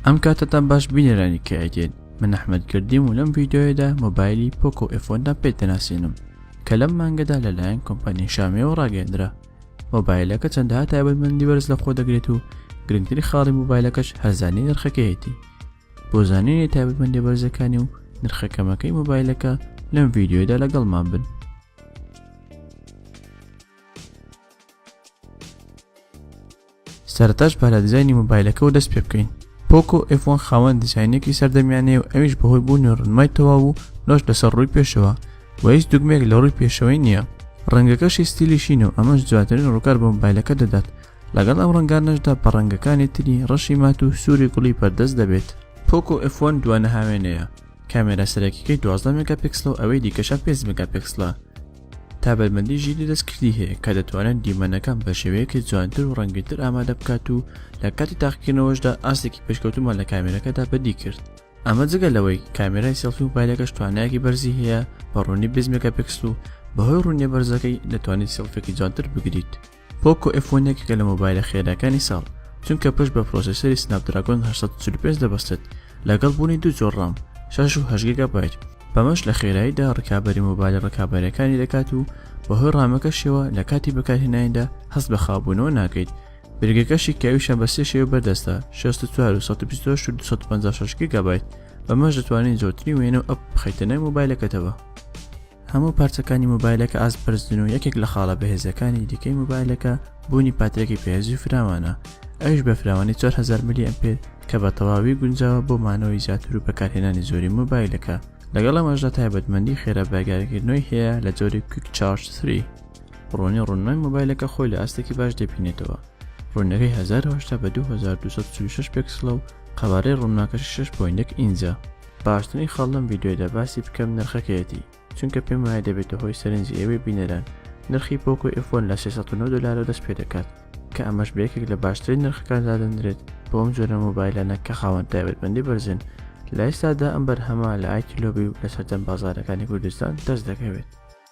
ئەم کاتە تا باش بینەرانی کایدێن من ئەحمد گردیم و لەم ڤیددیوەدا مۆبایلی پۆکۆ ئفۆندا پێ دەناسێنم کە لەم مانگەدا لەلایەن کۆمپانیای شامەوە ڕاگەندرا مۆبایلەکە چەندها تایبەتمەندی بەرز لە خۆ دەگرێت و گرنگتری خاڵی مۆبایلەکەش هەرزانی نرخەکەیەتی بۆ زانینی تایبەتمەندی بەرزەکانی و نرخەکەمەکەی مۆبایلەکە لەم ڤیددیوەدا لەگەڵمان بن سەرەتاش با لە دیزاینی مۆبایلەکەوە دەست پێ بکەین پۆکۆ ئفۆن خاوەن دیزاینێکی سەردەمیانەیە و ئەویش بەهۆی بوونی ڕنمای تەواو و لۆش لەسەر ڕووی پێشەوە و هیچ دوگمێک لە ڕووی پێشەوەی نییە ڕەنگەکەشی ستیلی شین و ئەمەش جواترین ڕووکار بۆ مۆبایلەکە دەدات لەگەڵ ئەم ڕەنگانەشدا بە ڕەنگەکانی تری ڕەشی مات و سووری گوڵی بەردەست دەبێت پۆکۆ ئفۆن دوانە هاوێنەیە کامێرا سەرەکیەکەی 12 مگاپیکسلە و ئەوەی دیکەشە 5 مگاپیکسلە تابەرمەندی ژیری دەستکردی هەیە کە دەتوانێت دیمەنەکان بە شێوەیەکی جوانتر و ڕەنگتر ئامادە بکات و لە کاتی تاقیکردنەوەشدا ئاستێکی پێشکەوتومان لە کامێرەکەدا بەدی کرد ئەمە جگە لەوەی کامێرای سێڵفی و پایلەکەش توانایەکی بەرزی هەیە بە ڕوونی بزمێکە پێکسل و بەهۆی ڕوونیە بەرزەکەی دەتوانیت سێڵفێکی جوانتر بگریت پۆکۆ ئێف وەن یەکێکە لە مۆبایلە خێراکانی ساڵ چونکە پشت بە پرۆسێسەری سناپدراگۆن هەشت سەد و چل و پێنج دەبەستێت لەگەڵ بوونی دوو جۆر ڕام شەش و هەشت گیگابایت بەمەش لە خێراییدا ڕکابەری مۆبایلە ڕکابەرەکانی دەکات و بەهۆی ڕامەکەشیەوە لە کاتی بەکارهێنانیدا هەست بە خاوبوونەوە ناکەیت برگەکەشی کاویشە بە سێ شێوە بەردەستە 64 و 128 و 256 گیگابایت بەمەش دەتوانین زۆرترین وێنە و ئەپ بخەیتە ناوی مۆبایلەکەتەوە هەموو پارچەکانی مۆبایلەکە ئاست بەرزن و یەکێک لە خاڵە بەهێزەکانی دیکەی مۆبایلەکە بوونی پاترێکی پێزی فراوانە ئەوش بە فراوانی 4000 ملی ئەمپێر کە بە تەواوی گونجاوە بۆ مانەوەی زیاتر و بەکارهێنانی زۆری مۆبایلەکە لەگەڵ ئەمەشدا تایبەتمەندی خێرا بەگارکردنەوەی هەیە لە جۆری کویک چارج 3 ڕۆنی ڕوونای مۆبایلەکە خۆی لە ئاستێکی باش دەبینێتەوە ڕوونەکەی 1940 بە 2246 پێکسلە و قەبارەی ڕووناکەش 6.1 ئینجا باشترین خاڵ لەم ڤیدیۆیدا باسی بکەم نرخەکەیەتی چونکە پێم وایە دەبێتە هۆی سەرنجی ئێوەی بینەران نرخی پۆکۆ ئێفۆن لە 609 دلارەوە دەست پێ دەکات کە ئەمەش بە یەکێک لە باشترین نرخەکان دادەندرێت بۆ ئەم جۆرە مۆبایلانە کە خاوەن تایبەتمەندی بەرزن لە ئێستادا ئەم بەرهەمە لە ئایکیلۆبی و لە سەرجەم بازارەکانی کوردستان دەست دەکەوێت